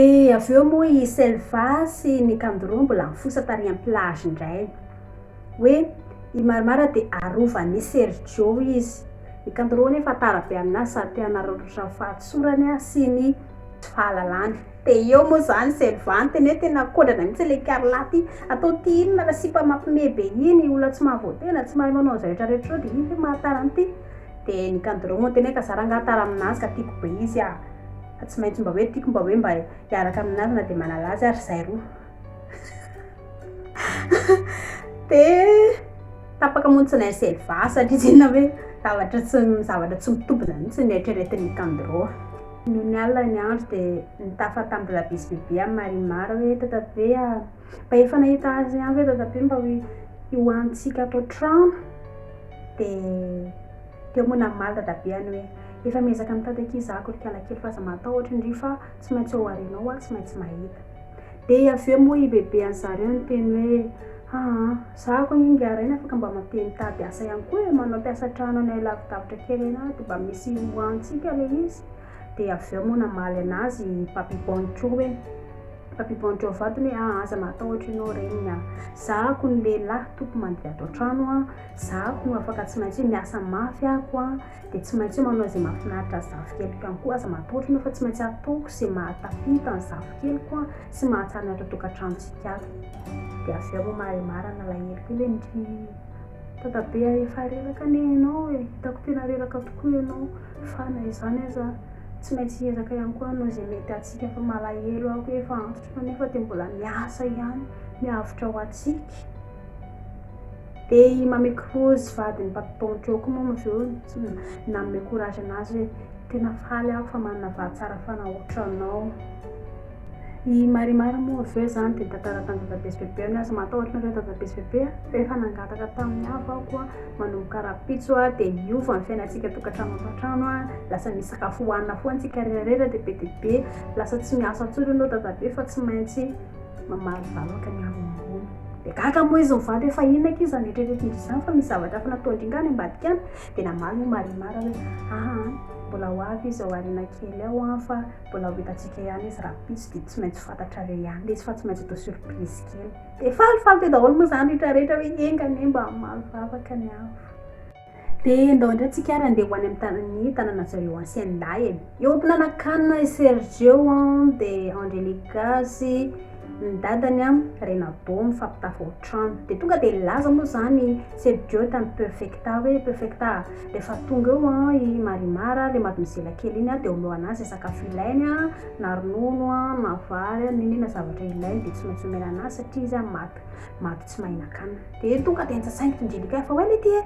Dia avy eo moa i Selva sy ny Kandoro mbola nifosa tary am-plage indray. Hoe i Marimara dia arovan'i Sergio izy. I Kandoro anefa tara be aminazy sady te hanararaotra ny fahatsorany sy ny tsy fahalalany. Dia eo moa izany i Selva niteny hoe tena kodrana mihitsy ilay Carla ity. Atao ity inona ilay sipa mampime be iny, olona tsy mahavoatena, tsy mahay manao izay rehetra rehetra izao dia iny ve mahatara an'ity? Dia ny Kandoro moa niteny hoe ka za rangahy tara aminazy ka tiako be izy ah. Fa tsy maintsy mba hoe tiako mba hoe mba hiaraka aminareo na dia manala azy ary zahay roa dia tapaka montsina ny seva satria tsy inona hoe zavatra tsy zavatra tsy mitobina mihitsy ny eritreretin'i Nikandro noho ny alina ny andro dia nitafa tamin'i Rabisy Bebe amin'i Marimar hoe tatabe ah mba efa nahita azy ihany ve tatabe mba hoe hihoanintsika ato an-trano dia Dia moa namaly dadabeany hoe, efa miezaka mitady akia izaho kolikoala kely fa aza matahotra ndry fa tsy maintsy ao aorianao aho tsy maintsy mahita. Dia avy eo moa ibebean-dry zareo niteny hoe, haa, izaho akoa anie ingahy Rainy afaka mba mate mitady asa ihany koa e, manao mpiasa trano any lavidavitra kely any aho dia mba misy ihoahantsika ilay izy. Dia avy eo moa namaly an'azy i Papy Boncho hoe, Papy Boncho vadiny hoe, haa, aza matahotra ianao reniny an! izaho akoa ny lehilahy toko mandihy ato an-trano an! Za ko afaka tsy maintsy hoe miasa mafy aho ko an, de tsy maintsy hoe manao izay mahafinaritra ny zafikeliko ihany koa, aza matahotra ianao fa tsy maintsy ataoko izay mahatafita ny zafikeliko an, sy mahatsara ny ato an-tokantranontsika ato. De avy eo moa maremara ny alahelo kely hoe ndry, tonga be ary efa reraka anie ianao e, hitako tena reraka tokoa ianao, fa na izany aza tsy maintsy hiezaka ihany koa hanao izay mety antsika fa malahelo aho hoe efa antitra ianao nefa de mbola miasa ihany, miavotra ho antsika. Dia i Mamy Cruz vadin'i Papi Pão Choco moa avy eo nanome courage anazy hoe tena faly aho fa manana vady tsara fanahy ohatranao. I Marimar moa avy eo izany dia nitantara tamin'i Dadabe sy Bebe ny azy. Matahotra anareo Dadabe sy Bebe a! Rehefa nangataka tamin'ny hafa aho koa manomboka rahampitso a, dia hiova ny fiainantsika tokantrano antokantrano a, lasa misy sakafo hohanina foana isika rehetra rehetra dia be dia be, lasa tsy miasa intsony ianao Dadabe fa tsy maintsy Mamaly vavaka ny avo ambony. Dia gaga moa izy mivady hoe fa inona akia izany eritreretiny izany fa misy zavatra hafa natao indrindra any ambadika any. Dia namaly moa Marimar hoe aa mbola ho avy izy ao aoriana kely ao an fa mbola ho hitantsika ihany izy rahampitso dia tsy maintsy fantatrareo ihany izy fa tsy maintsy atao surprise kely. Dia falifaly teo daholo moa izany rehetrarehetra hoe enga anie mba hamaly vavaka ny avo. De ndao indray tsika ary andeha ho any amin'ny tanan'ny tanana zareo ancienne lahy e. Eo am-pinanakana i Sergio an, de Angelica sy ny dadany an, Renabo mifampitafy ohatrano. De tonga de nilaza moa zany Sergio tamin'i Perfecta hoe Perfecta a, rehefa tonga eo an i Marimar a, le mademoiselle kely iny a, de omeo anazy ze sakafo ilainy a, na ronono a, na vary a, n'inona n'inona zavatra ilainy de tsy maintsy omena anazy satria izy an maty, maty tsy mahinan-kanina. Dia tonga dia nsasain'i Kinjilika fa hoe le ty e,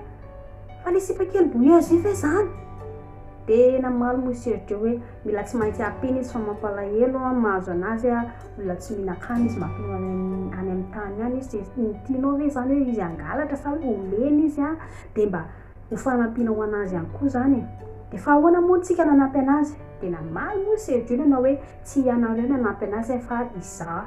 fa le sipa kely bouilleuse io ve zany? Dia namaly moa i Sergio hoe mila tsy maintsy ampiana izy fa mampalahelo an, mahazo anazy an, olona tsy mihinan-kanina izy mampino any amin'ny any amin'ny tany any izy, dia ny tianao ve zany hoe izy hangalatra sa hoe ho lena izy an, dia mba ho fanampiana ho anazy ihany koa zany e. Dia fa ahoana moa tsika nanampy anazy? Dia namaly moa i Sergio nanao hoe tsy ianareo nanampy anazy fa izaho.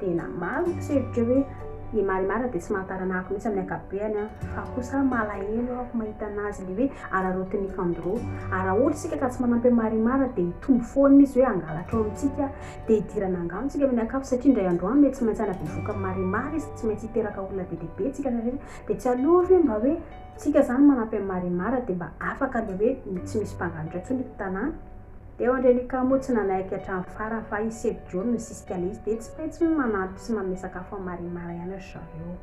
Tena maro ny mpisedrika hoe i Marimar dia tsy mahatarana ahy mihitsy amin'ny ankapobeny an! Fa kosa malahelo aho mahita anazy le hoe araraotin'ny fandro. Araholy isika ka tsy manampy an'i Marimar dia hitombo foana izy hoe hangalatra ao amintsika dia hidirana angano tsika amin'ny ankapobeny satria indray andro any mety tsy maintsy hanavy voka Marimar izy tsy maintsy hiteraka olona be dia be tsika rehetra dia tsy aleo ve mba hoe tsika zany manampy an'i Marimar dia mba afaka le hoe tsy misy mpangalatra intsony eto tanàna. Teo Angelica moa tsy nanaiky hatramin'ny farany fa i Seb John misisika le izy dia tsy petsy ny manampy sy manome sakafo an'i Marie Mara ihany ry zareo.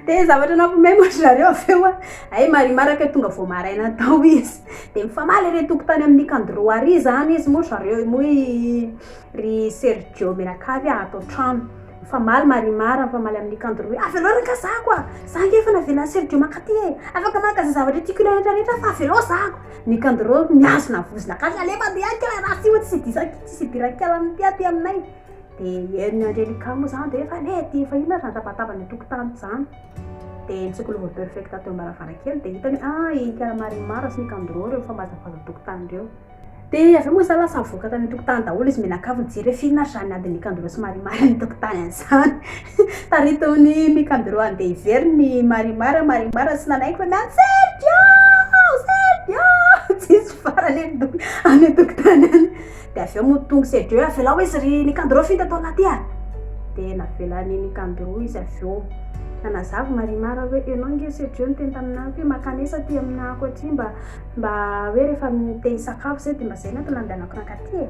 Dia zavatra nampiomehy moa ry zareo avy eo an! Hay Marie Mara kay tonga vao maraina tao izy. Dia mifamaly ery an-tokotany amin'i Nicandro ary izany izy moa ry zareo moa i ry Sergio mianakavy an ato an-trano. Mifamaly Marie Mara mifamaly amin'i Nicandro hoe avelao re kazako an! Za ange efa navelan'i Sergio mankaty e! Afaka maka izay zavatra tiako ilaina rehetra rehetra aho fa avelao zako! Ny kandro mihazona vozona gasy alefa aty aty a raha tsy tsy disaki tsisy idirako kely amin'ity aty aminay dia eny andry alika moa izany dia efa le dia efa inona ary izany tabataba ny tokotany izany dia ny tsikology perfecta teo am-baravarankely dia hitany hoe ah i kala marimara sy ny kandro ireo mifambazabaza tokotany ireo dia avy eo moa izany lasa nivoaka tany an-tokotany daholo izy mianakavy nijery hoe f'inona ary izany adin'ny kandro sy marimara any an-tokotany any izany Taritin'i Nicandro andeha hijery ny Marimar, Marimar tsy nanaiky fa niany, Sergio! Sergio! Tsisy farany any an-doha, any an-tokotany any. Dia avy eo moa tonga Sergio, avelao izy ry Nicandro finta tao anaty a! Dia navelan'i Nicandro izy avy eo. Nanazava Marimar hoe, ianao ange Sergio niteny taminà hoe mankanesa aty aminà ako aty mba mba hoe rehefa te-hisakafo izay dia mba izay no atao nandehanako nankatỳ e!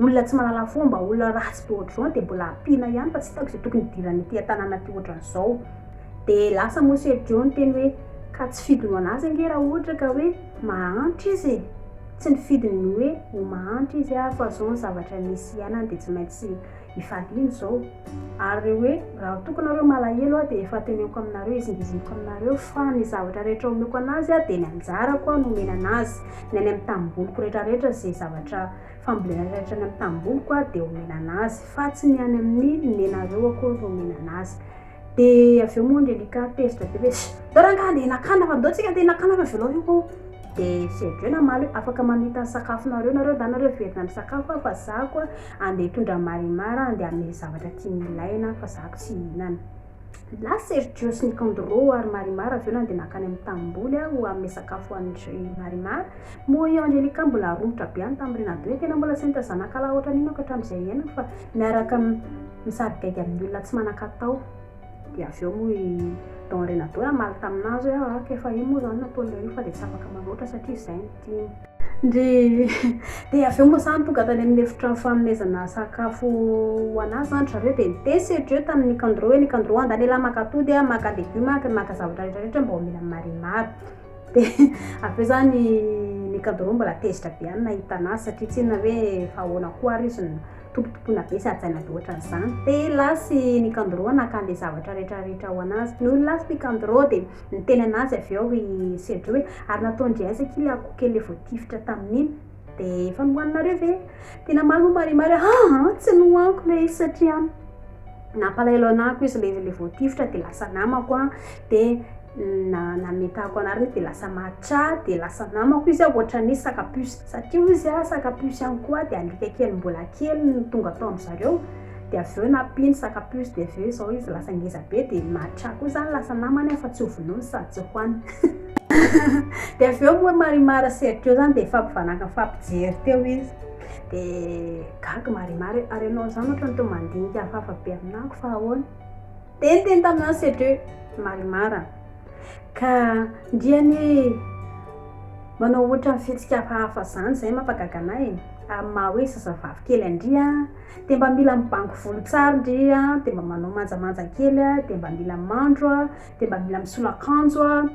Olona tsy mahalala fomba, olona ratsy be ohatr'izao dia mbola ampiana ihany fa tsy hitako izay tokony hidirany ity an-tanàna ity ohatr'izao. Dia lasa moa Sergio niteny hoe, Ka tsy fidiny ho an'azy ange raha ohatra ka hoe mahantra izy e! Tsy ny fidiny ny hoe ho mahantra izy aho fa izao ny zavatra misy iainana dia tsy maintsy hifaliana izao. Ary hoe raha toa ka nareo malahelo aho dia efa teneniko aminareo izingizingiko aminareo fa ny zavatra rehetra omeko an'azy dia ny anjarako no omena an'azy, ny any amin'ny tanimboliko rehetrarehetra izay zavatra fa mbola ilay tany amin'ny tanimboliko aho dia omena an'azy fa tsy ny any amin'ny nenareo akory no omena an'azy dia avy eo moa Angelica tezitra be hoe ndao rangahy andeha hinakana fa ndao tsika andeha hinakana fa velao io ko dia sy avy eo namaly hoe afaka mamita ny sakafonareo nareo ndana nareo hiverina misakafo aho fa za koa andeha hitondra marimara andeha hamely zavatra tiany ilaina fa za ko tsy hihinana Lahy Sergio sy Nicandro ary Marimar avy eo nandeha nankany amin'ny tanimboly aho hanome sakafo an-dry Marimar. Moa io Angelica mbola romotra be any tamin'i Renato io, tena mbola tsy nahita zanakalahy ohatran'iny aho hatramin'izay iainako fa miaraka misarigaigy amin'ny olona tsy manan-katao. Dia avy eo moa i Don Renato hoe hamaly tamin'azy hoe ahh k'efa iny moa izany nataon'ilay izy fa dia tsy afaka manoatra satria izay no tiany. Dia avy eo moa izany tonga tany amin'ny efitra fanomezana sakafo ho an'azy izany ry zareo dia nitesy hatreo tamin'i Nicandro hoe Nicandro a, andalehilahy maka atody a, maka legioma a, maka zavatra rehetra rehetra mba omena an'i Marimar. Dia avy eo izany i Nicandro mbola tezitra be ihany nahita an'azy satria tsy inona hoe efa ahoana koa àry izy no tompotompoina be sy hajaina be ohatran'izany. Dia lasa i Nicandro naka an'ilay zavatra rehetra rehetra ho an'azy. Nony lasa i Nicandro dia Niteny anazy avy eo i Cedric hoe, ary nataon-dry aiza akia ilay akoho kely voatifitra tamin'iny? Dia efa nohaninareo ve? Dia namaly ho marihimary hoe, aa, tsy nohaniko ilay izy satria nampalahelo anako izy ilay ilay voatifitra dia lasa namako an, dia na nametahako anareo izy dia lasa matra dia lasa namako izy an, ohatran'ny hoe saka puce satria hoy izy an, saka puce ihany koa dia alika kely mbola kely no tonga tao amin'izareo. dia avy eo nampiany sac à puce dia avy eo izao izy lasa ngeza be dia matra koa izany lasa namany aho fa tsy ho vonoiny sady tsy hohaniny dia avy eo moa Marimar sy Sergio izany dia nifampivanaka nifampijery teo izy dia gaga Marimar hoe ary ianao izany ohatran'ny toa mandinika hafahafa be aminako fa ahoana dia niteny taminà Sergio hoe Marimar ka ndriany manao ohatran'ny fihetsika hafahafa izany izay mampagaga anà e amin'ny maha hoe zazavavy kely andria dia mba mila mibango volo tsara ndry a, dia mba manao manjamanja kely a, dia mba mila mandro a, dia mba mila misolo akanjo a,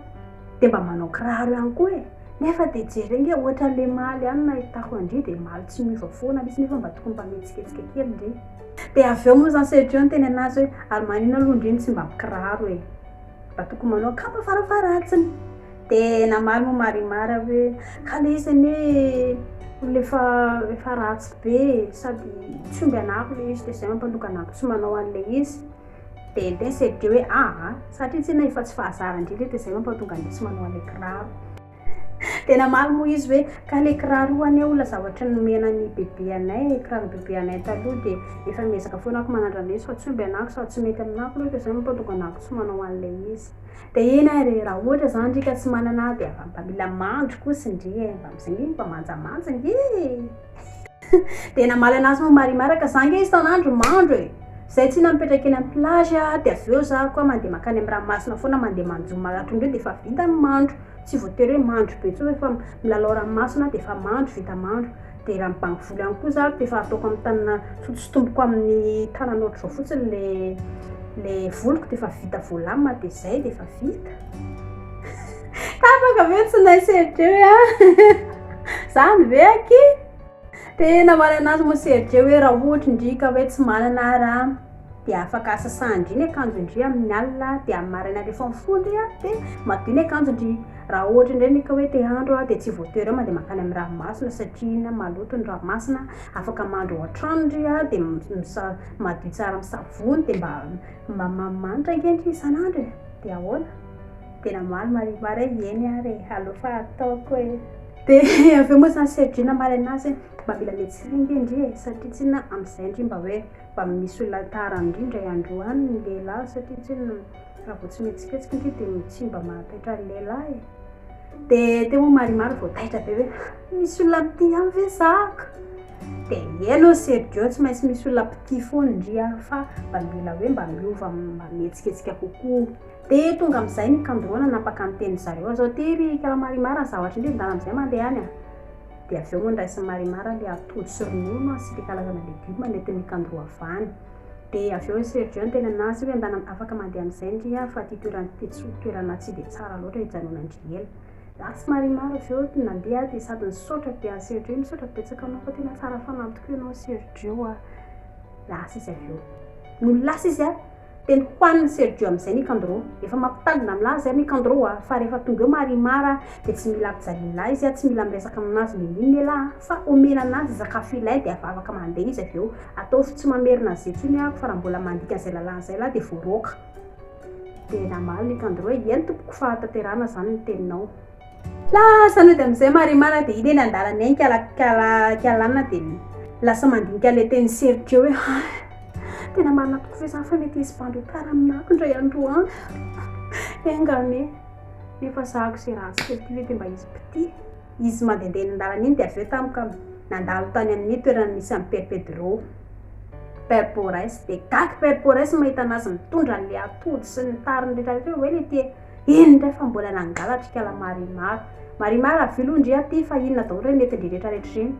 dia mba manao kiraro ihany koa e! nefa dia jereo nge ohatran'ilay maly any nahitako an-dry dia maly tsy miova foana mihitsy nefa mba tokony mba mihetsiketsika kely ndry dia avy eo moa izany Sergio niteny anazy hoe ary maninona aloha ndry no tsy mba mikiraro e! mba tokony manao kapa farafaharatiny Dia namaly moa Marimar hoe, ka le izy anie olona efa efa ratsy be e, sady tsy omby anako le izy dia zay mampandroka anako tsy manao an'ilay izy. Dia teny Sergio hoe, aa, satria tsinona efa tsy fahazaran-dry le dia zay mampatonga an'le tsy manao an'le kiraro. Dia namaly moa izy hoe, ka le kiraro io anie olona zavatry ny nomena an'i bebe anay e, kiraron'i bebe anay taloha dia efa miezaka foana ako manandrana izy fa tsy omby anako sady tsy mety aminako le dia zay mampandroka anako tsy manao an'ilay izy. Fiteny ary raha ohatra zany ndry ka tsy manana dia avy amin'ny mpamila mandry koa sy ndry e, mba mizaha nge mba manjamanja nge e! Dia namaly anazy moa Marimar ka za nge isan'andro mandro e! Zay tsinona mipetraka eny amin'ny plage a, dia avy eo za koa mandeha mankany amin'ny ranomasina foana mandeha manjono maraton-dry eo dia efa vita ny mandro, tsy voatery hoe mandro be intsony fa milalao ranomasina dia efa mandro, vita mandro. dia raha mibango vola ihany koa za dia efa ataoko amin'ny tanana sotosotomboko amin'ny tanana ohatr'izao fotsiny ilay ilay voliko dia efa vita voalamina dia izay dia efa vita tapaka ve tsy naisy edreo a zany ve aky dia namaly anazy moa serge hoe raha ohatra indrika hoe tsy manana ary a dia afaka sasandry ny akanjondry amin'ny alina dia amin'ny maraina rehefa mifoha indray dia madio ny akanjondry raha ohatra indray ny ka hoe te handro dia tsy voatery hoe mandeha mankany amin'ny ranomasina satria iny maloto ny ranomasina afaka mandro ao an-trano ndry dia misa madio tsara amin'ny savony dia mba mba mamanitra ange ndry isan'andro e dia ahoana dia namaly Marimar hoe eny ary e aleo fa ataoko e dia avy eo moa izany Sergina maraina azy hoe mba mila mihetsika ange ndry e satria tsinona amin'izay ndry mba hoe Mba misy olona tara indrindra i Androany ny lehilahy satria tsinona raha vao tsy mihetsiketsika ity dia tsy mba mahataitra ny lehilahy e! Dia teo moa Marimar vao taitra be hoe misy olona mitia ahy ve zaka? Dia eny ô Sergio tsy maintsy misy olona mpitia foana indry aho fa mba mila hoe mba miova mba mihetsiketsika kokoa. Dia tonga amin'izay ny kandrona nanapaka ny tenin'izareo aza. Tery kala Marimar ny zavatra indry endala amin'izay mandeha any a! Dia avy eo mandrahy sy marimara ilay atody sy ronono an, sy ilay karazana legioma nentin'ny kandroavany. Dia avy eo i Sergio nitenenina azy hoe andanam afaka mandeha amin'izay ndry an, fa ity toerana ity tsy ho toerana tsy dia tsara loatra hijanona ndry ela. Za tsy marimara avy eo dia nandeha aho dia sady nisaotra be an'i Sergio hoe misaotra betsaka anao fa tena tsara fanahy tokoa ianao Sergio a. Lasa izy avy eo. Nony lasa izy an! Teny hohanin'i Sergio amin'izay Nicandro. Efa mampitandrina amin'lah izay Nicandro a! Fa rehefa tonga eo Marimar a, dia tsy mila ampijalian'lah izy a, tsy mila miresaka amin'azy n'inon'inona elah a! Fa omena an'azy ny sakafo ilay dia efa afaka mandeha izy avy eo. Ataovy tsy mamerina an'izay intsony ahako fa raha mbola mandika an'izay lalàna izay lah dia voaroaka. Dia namaly Nicandro hoe, Eny tompoko, fahatanterahana izany ny teninao. Lasa nody amin'izay Marimana dia iny eny an-dalana eny ka Kialana dia lasa mandinika ilay teny Sergio hoe ha, tena marina tokoa ve izany fa mety hisy bandy ho tara amin'ny nako indray andro any? Enga anie, nefa sahako izay ratsy kely ity ve dia mba hisy mpitia? Izy mandehandeha eny an-dalana iny dia avy eo tampoka nandalo tany amin'ny toerana nisy an'i Père Pedro, Père Porès, dia gaga Père Porès mahita an'azy mitondra an'ilay atody sy ny tariny rehetrarehetra hoe hoe le tia. Eny indray fa mbola nangalatr'ikala Marimar. Marimar avy aloha ndry aty fa inona daholo re mety ndry retraretra ireny.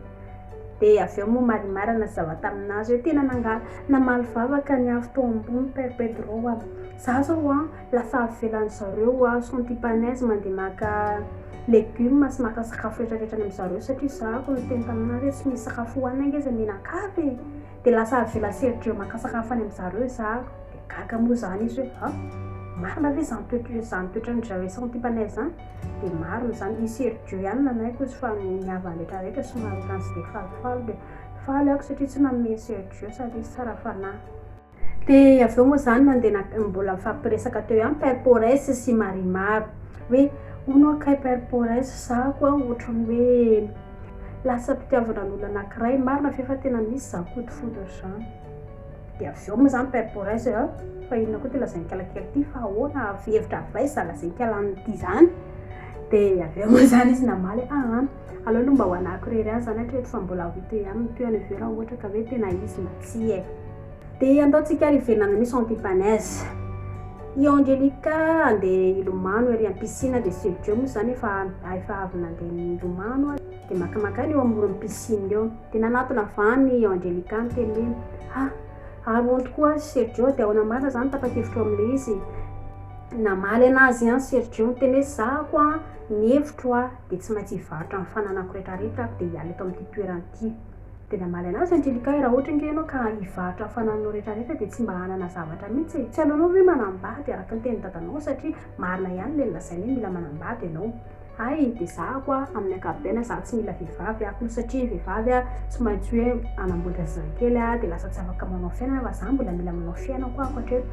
Dia avy eo moa Marimar nazava tamin'azy hoe tena nangala, namaly vavaka ny avy tao ambony Père Pedro a. Za zao an, lasa avy ivelan'ny zareo a, Santipanez mandeha maka legumes sy maka sakafo retraretra any amin'ny zareo satria za ko niteny tamin'azy hoe tsy misy sakafo hohanina ange izay mihinan-kafa e. Dia lasa avy ela sy hery-dreo maka sakafo any amin-dry zareo izaho. Dia gaga moa izaho nisy hoe, an! marina ve izany toetra izany toetran'i Jahoe sy Antipanay izany? Dia marina izany, hisy hery-dreo ihany nanaiky hozy fa ny havany rehetrarehetra somary ohatran'ny tsy dia falifaly. Dia faly aho satria tsy nanome hery sy hery-dreo sady izy tsara fanahy. Dia avy eo moa izany nandeha nak, mbola nifampiresaka teo ihany Père Porès sy Marimar. Hoe, hono hono kay Père Porès, izaho koa hoatran'ny hoe. Lasa mpitiavana ny olona anakiray marina ve fa tena misy zany koto foudre zany? Dia avy eo moa zany père Boris a! fa inona koa ty lazain-kela kely ty fa ahoana avy hevitra avy aiza lazain-kela aminy ty zany? dia avy eo moa zany izy namaly a! an! aleo aloha mba ho anahako irery ihany zany hatreto fa mbola ho hita eo ihany ny tohiny avy eo raha ohatra ka hoe tena izy na tsia e! Dia andaontsika ary hiverina misy anti panaise. I Angelica handeha hilomano ery amin'ny piscine dia Sergio moa izany efa efa avy nandeha nilomano ary dia makamaka aina eo amoron'ny piscine eo. Dia nanatona van i Angelica niteny hoe, Ha! Ary hono tokoa an, Sergio dia ahoana marina izany tapa-kevitra eo amin'ilay izy? Namaly anazy an Sergio niteny hoe, za koa an, ny hevitro an dia tsy maintsy hivarotra ny fananako retraretra aho dia hiala eto amin'ity toerana ity. Dia namaly anazy Angelica, Raha ohatra ange ianao ka hivarotra ny fanananao rehetrarehetra dia tsy mba hanana zavatra mihitsy e! Tsy aleonao ve manambady araka ny tenin'i dadanao satria marina ihany ilay nolazainy hoe mila manambady ianao. Hay dia zahako a! Amin'ny ankapobeny izaho tsy mila vehivavy aho satria ny vehivavy a tsy maintsy hoe manamboatra zazakely a dia lasa tsy afaka manao fiainana fa izaho mbola mila manao fiainako aho hatreto.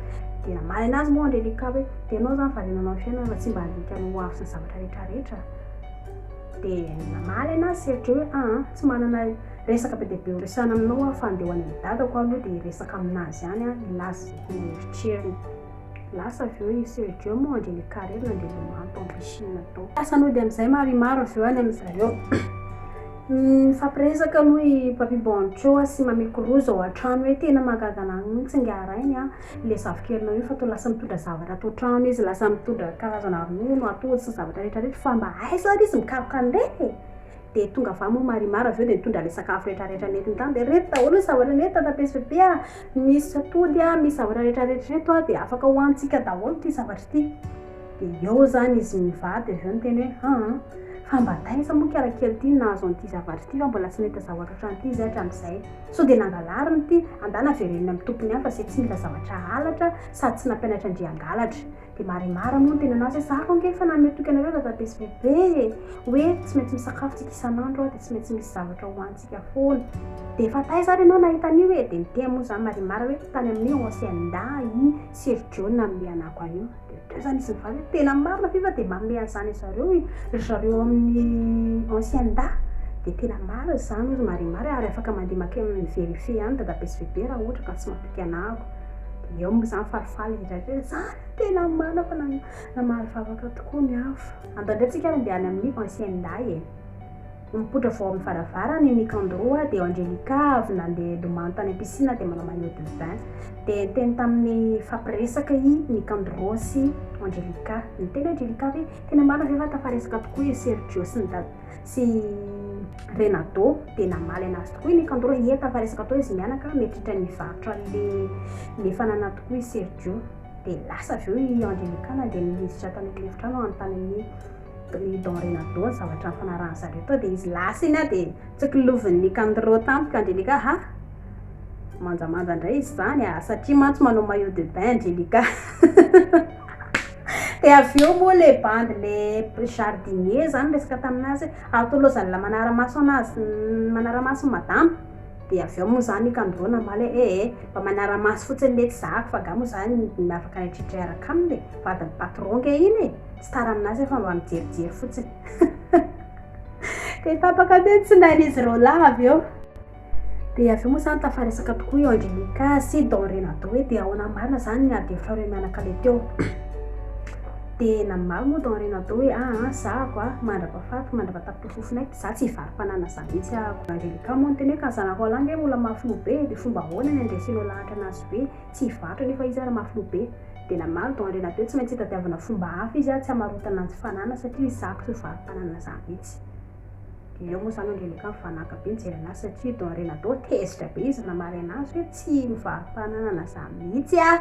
Dia namaly anazy moa Angelica hoe, Dia ianao izany variana hanao ny fiainana fa tsy mba handinika ny hoavy sy ny zavatra rehetrarehetra? Dia namaly ana sy Serge hoe aa tsy manana resaka be dia be horesahana aminao aho fa andeha ho any amin'ny dadako aho aloha dia hiresaka aminazy ihany aho hilaza izay tena eritreriny. Lasa avy eo i Serge moa handre ny carrière nandeha lomano tao piscine tao. Lasa nody amin'izay Marimar avy eo any amin'i zareo. Nifampiresaka aloha i Papy Boncho sy Mamy Cruz ao an-trano hoe tena mahagaga anah mihitsy ingahy Rainy a! ilay zafikelinao io fa toa lasa mitondra zavatra ato an-trano izy, lasa mitondra karazana ronono, atody sy ny zavatra rehetra rehetra fa mba aiza ary izy mikaroka an'ireny e? dia tonga avy any moa marimar avy eo dia nitondra ilay sakafo rehetra rehetra nentiny tany dia ireto daholo ny zavatra nentiny tany taty svp a, misy atody a, misy zavatra rehetra rehetra ireto a, dia afaka hohanintsika daholo ity zavatra ity, dia eo izany izy mivady avy eo niteny hoe haa fa mba taiza moa kara kely ity no nahazo an'ity zavatra ity fa mbola tsy nahita zavatra ohatran'ity izahay hatramin'izay, Sao dia nangalariny ity, andana avereno ny amin'ny tompony hafa izay tsy mila zavatra halatra sady tsy nampianatra an-dry hangalatra. Dia marimara moa ny tenanao zay, za vao ange efa nanome toky anareo dadabe sy bebe e! hoe tsy maintsy misakafo tsika isan'andro aho dia tsy maintsy misy zavatra hohanintsika foana. Dia efa taiza ary ianao nahita an'io e? Dia niteny moa za marimara hoe tany amin'ny Hacienda i Sergio nanome anako an'io. Dia izany izy mivady hoe tena marina ve fa dia mameha izany anzareo i ry zareo amin'ny ancienne da dia tena marina izany hoy ry marimary ary afaka mandeha makeny mi verifier ihany dadabe sy bebe raha ohatra ka tsy mampika ana ako dia eo mo izany falifaly ry zareo hoe zany no tena marina fa namaly vavaka tokoa ny hafa andanindray tsika ary andeha any amin'ny ancienne da e. Nipoitra vao amin'ny varavarana i Nicandro dia eo Angelica avy nandeha hilomano tany am-piscine dia manao maillot de bain. Dia niteny tamin'ny nifampiresaka i Nicandro sy Angelica. Niteny Angelica hoe, tena marina ve fa tafaresaka tokoa i Sergio sy sy Renato? Dia namaly anazy tokoa i Nicandro, ie tafaresaka toa izy mianaka, mety hitra ny varotra le fanana tokoa i Sergio. Dia lasa avy eo i Angelica nandeha niditra tany amin'ny efitrano hanontany an'i. Ry Don Renato, zavatra nifanarahan'i zareo tao dia izy lasa iny aho dia tsikilovin'i Nicandro tampoka, Angelica ha! manjamanja indray izy izany a! satria mantsy manao maillot de bain Angelica dia avy eo moa ilay bandy ilay jardinier izany niresaka taminazy hoe, atoloza ny manara-maso anazy, ny manara-mason'i madama. Dia avy eo moa izany i Kandô namaly hoe, ee, mba manara-maso fotsiny letsy zahako fa angaha moa izany midiny miavaka an'i Tritry hiaraka aminy e! vadin'i patron ange iny e! tsy tara amin'azy aho fa mba mijerijery fotsiny. Dia tapaka teo ny tsinain'izy ireo lahy avy eo. Dia avy eo moa izany tafaresaka tokoa i Angelica sy Don Renato hoe dia ahoana marina izany ny ady frareo mianakavy teo. Dia namaly moa Don Renato hoe, aa, zahako a, mandrapahafaty, mandrapahatapitrisa. Fofona e, za tsy hivaro mpanana za mihitsy ahako. Angelica moa niteny hoe ka Zanaroalahy nge mbola mafy loha be dia fomba ahoana ny andresenao lahatra anazy be, tsy hivarotra nefa izy ary mafy loha be. Dia namaly Don Renato hoe tsy maintsy hitadiavana fomba hafa izy ary tsy hamarotana anjy fanana satria za ko tsy mivaro mpanana za mihitsy. Dia eo moa zany Angelica mivanaka be nijery anazy satria Don Renato tezitra be izy namaly anazy hoe tsy mivaro mpananana za mihitsy ah!